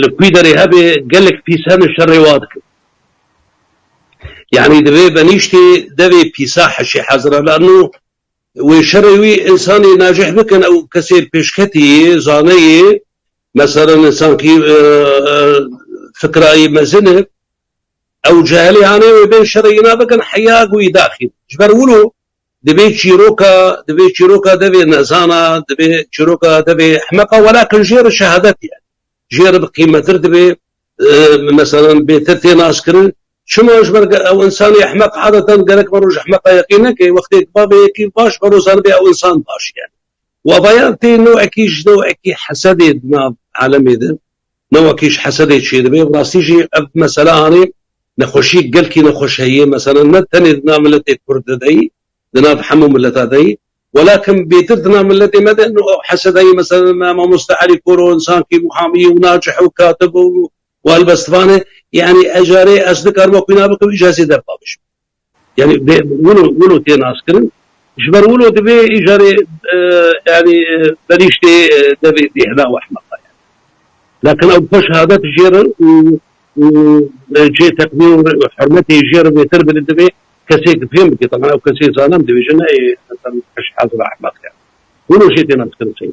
li kûî derê hebê gelek pîsa min şer rêwa dikin. Yanî divê benîştê devê pîsa heşê hezira lanû wê şerê wî însanê najih bikin ew kesê pêşketî yê, zane yê, meselan însankî fikrayî mezin e ew cehelê anê wê bên şerê îna bikin heya gûî daxîn. Ji ber wilo Divê çîroka divê çîroka devê nezana, divê çîroka devê ehmeqa welakin jê re şehadet ye. Jê re bi qîmetir divê meselan bêtir tê naskirin. Çima ji ber ew însanê ehmeq adetan gerek varo ji ehmeqa yeqîn neke. Wextê ku bavê yekî baş varo zanibê ew însan baş ye. Wavayan tê newekî ji newekî hesedê di nav alemê de. Ne wekî ji hesedê çêdibe bi rastî jî ev mesele anî nexweşiyek gelkî nexweş heye mesele ne tenê di nav miletê kurd de deyî di nav hemû mileta deyî welakim bêtir di nav miletê me de no ew heseda yê mesele me mamoste Elî Koro insankî muhamî û nacih û katib û helbestvan e yanî ejarê ez dikarim wekî na bikim îj hesê dev pavij bikim. Yanî bê wilo wilo tê naskirin. Ji ber wilo divê îcarê yanî benîştê devê bêhna û ehmeqa ye. Lakin ew bi xwe şehadet jêrin û û cihê teqdîr û hurmetê jêrin vêtir bidin divê kesê ki fêm bike teman ew kesê zalim dibêje ne ê esan eş hezra ehmeq ye. Wilo jê tê naskirin sey.